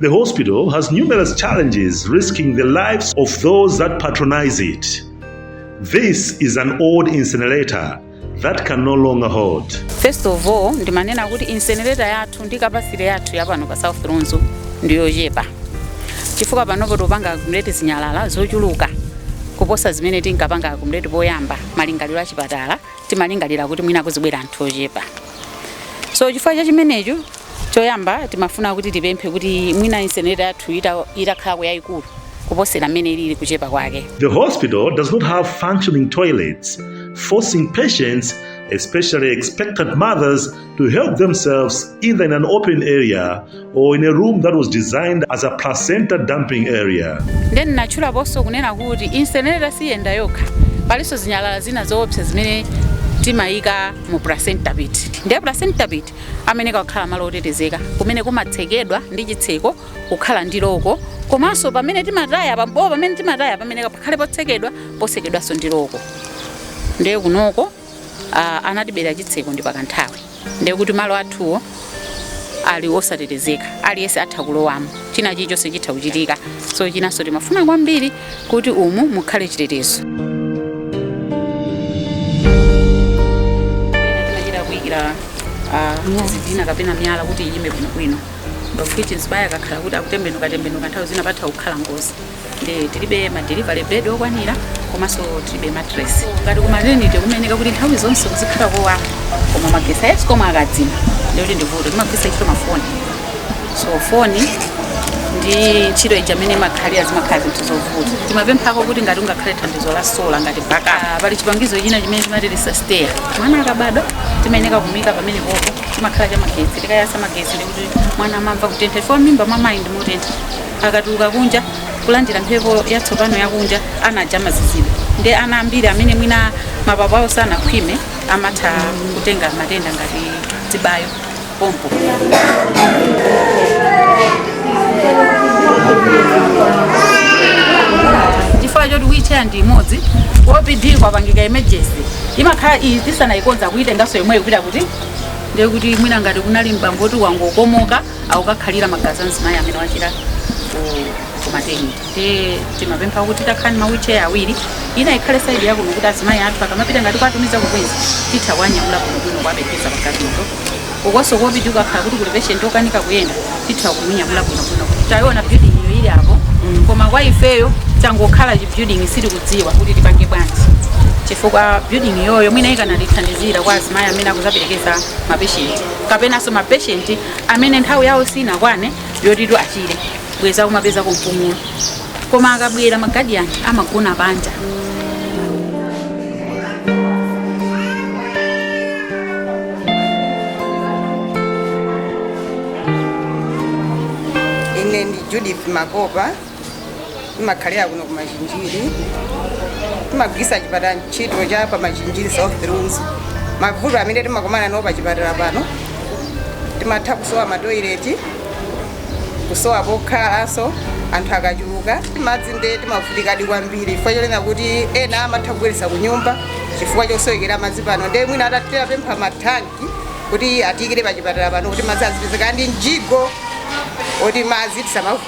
The hospital has numerous challenges risking the lives of those that patronize it. This is an old incinerator that can no longer hold. first of all ndimanena kuti incinerator yathu ndi capacity yathu yapano pa South Lunzu ndiyochepa chifukwa panopo tikupanga akumuleti zinyalala zochuluka kuposa zimene tinkapanga akumuleti poyamba malingaliro a chipatala timalingalira kuti mwina kuzibwera anthu ochepa so chifukwa cha chimenecho choyamba timafuna kuti tipemphe kuti mwina incinerator yathu ita- itakhalako yayikulu kuposera mmene ilili kuchepa kwake The hospital does not have functioning toilets, forcing patients, especially expectant mothers, to help themselves either in an open area or in a room that was designed as a placenta dumping area. nde ndinatchulaponso kunena kuti incinerator siyenda yokha palinso zinyalala zina zoopsa zimene timayika mu placenta pit ndiye placenta pit amayenera kukhala malo otetezeka kumene kumatsekedwa ndi chitseko kukhala ndi loko komanso pamene timataya pambowo pamene timataya pamenepo pakhale potsekedwa potsekedwanso ndi loko ndiye kunoko uh, anatibera chitseko ndi pakanthawi ndiye kuti malo athuwo ali osatetezeka aliyense atha kulowamo china chilichonse chitha kuchitika so chinanso timafuna kwambiri kuti umu mukhale chitetezo tinachita kuyikira uh, zidhina kapena miyala kuti iyime bwinobwino of which mzimayi akakhala kuti akutembenuka tembenuka nthawi zina patha kukhala ngozi Eh, tilibe ma delivery bed okwanira komanso tilibe mattress ngati ku maternity kumayenera kuti nthawi zonse kuzikhala kowala koma magesi a escom akadzima ndikuti ndivuto timagwiritsa ntchito mafoni so foni ndi ntchito ija amene imakhalira zimakhala zinthu zovuta timapemphako kuti ngati kungakhale thandizo la sola ngati backup pali chipangizo china chimene timati resuscitaire mwana akabadwa timayeneka kumika pamenepopo chimakhala cha magesi tikayasa magesi ndikuti mwana amamva kutentha chifukwa mimba mwa mayi ndi motentha akatuluka kunja kulandira mphepo yatsopano yakunja ana aja amazizidwa nde ana ambiri amene mwina mapapo awo sanakhwime amatha kutenga matenda ngati zibayo pompo chifukwa choti wheelchair ndi imodzi opd kwapangika emergency imakhala iyi tisanayikonza kuyitenganso yomweyo kupita kuti ndekuti mwina ngati kunali m'bambo woti wangokomoka akukakhalira magazi a mzimayi amene wachira ku- ku maternity nde timapempha kuti titakhala ndi ma wheelchair awiri ina ikhale saidi yakuno kuti azimayi athu akamapita ngati kuwatumiza ku Queens titha kuwanyamula bwinobwino kuwapereka pagazito ukonso ku opd kukakhala kuti kuli patient okanika kuyenda titha kumunyamula bwinobwino kuti tayiona building iyo ili apo koma kwa ifeyo changokhala chi building sitikudziwa kuti tipange bwanji chifukwa building iyoyo mwina ikanatithandizira kwa azimayi amene akuzaperekeza mapeshenti kapenanso mapeshenti amene nthawi yawo sinakwane yotitu achire bwenzi akumapezako mpumulo koma akabwera magadiyani amagona panja ine ndi judith makopa timakhalira kuno ku machinjiri timagwiritsa chipatala ntchito cha pa machinjiri south lunzu mavuto amene timakumana nawo pa chipatala pano timatha kusowa matoileti kusowa pokhalanso anthu akachuluka, madzi nde timavutikadi kwambiri chifukwa chonena kuti ena amatha kubwerera ku nyumba chifukwa chosowekera madzi pano nde mwina titapempha mathanki kuti atiyikire pa chipatala pano kuti madzi azipezeka ndi mjigo oti madzi tisamavu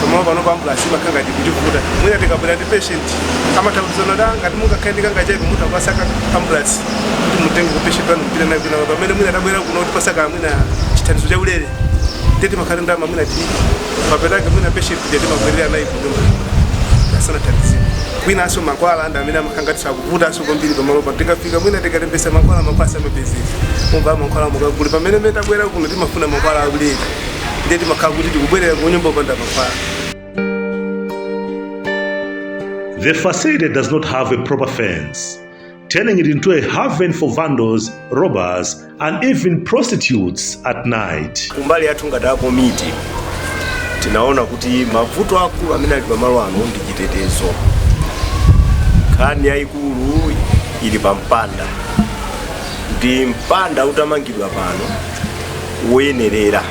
pamalo pano ambulance imakhala ngati kutivuta mwina tikabwera ndi patient amatha kuuza kuti ngati mungakhale ndi kangachepe mutha kupatsa a ambulance kuti mutenge patient wanu mupite naye kwina pamene mwina tabwera kuno kutipatsako mwina chithandizo cha ulere ndiye timakhala ndi ndalama mwina tili papetake mwina patient ndiye timabwerera naye kunyumba asanathandizike kwinanso mankhwala ndi amene amakhala ngati akuvutanso kwambiri pamalo pano tikafika mwina tikalembetsa mankhwala mapasi amapezeka kumva mankhwala mukagule pamene mene tabwera kuno timafuna mankhwala aulere ndiye timakhala kuti tikubwerera ku nyumba opanda mankhwala The facility does not have a proper fence, turning it into a haven for vandals, robbers, and even prostitutes at night. kumbali yathu ngati a komiti tinaona kuti mavuto akulu amene ali pamalo ano ndi chitetezo nkhani yayikulu ili pa mpanda ndi mpanda utamangidwa pano woyenerera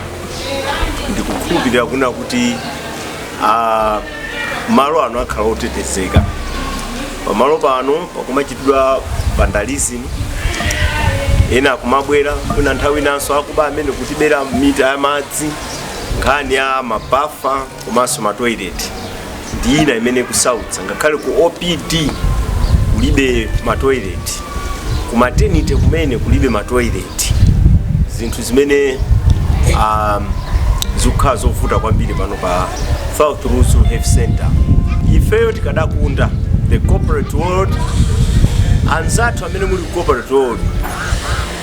ndikukhulupirira kunena kuti ah, malo ano akhala otetezeka pamalo pano pakumachitidwa vandalism ena akumabwera kena nthawi inanso akuba amene akutibera mita ya madzi nkhani ya mabafa komanso ma toilet ndi ina imene ikusautsa ngakhale ku opd kulibe ma toilet ku maternity kumene kulibe ma toilet zinthu zimene um, zikukhala zovuta kwambiri pano pa South Lunzu Health Center ifeyo tikadakonda the corporate world anzathu amene muli ku corporate world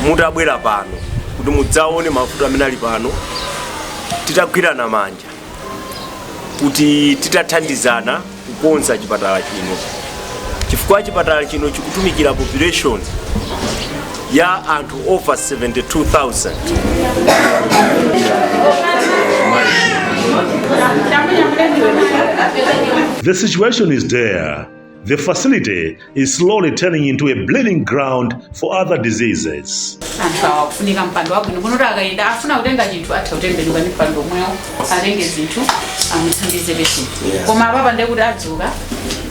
mutabwera pano kuti mudzaone mavuto amene ali pano titagwirana manja kuti titathandizana kukonza chipatala chino chifukwa chipatala chino chikutumikira population ya anthu over 72000 The situation is there. The facility is slowly turning into a breeding ground for other diseases. anthu awa kufunika mpando wabwino kuti akayenda afuna kutenga chinthu atha kutembenuka ndi mpando omwewo atenge zinthu amuthandize peso koma apapa ndiye kuti adzuka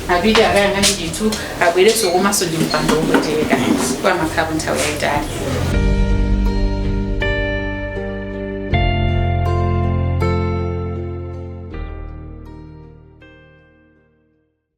apite akayang'ane chinthu abwerenso komanso ndi mpando wopweteka kwa amakhalapo nthawi yayitali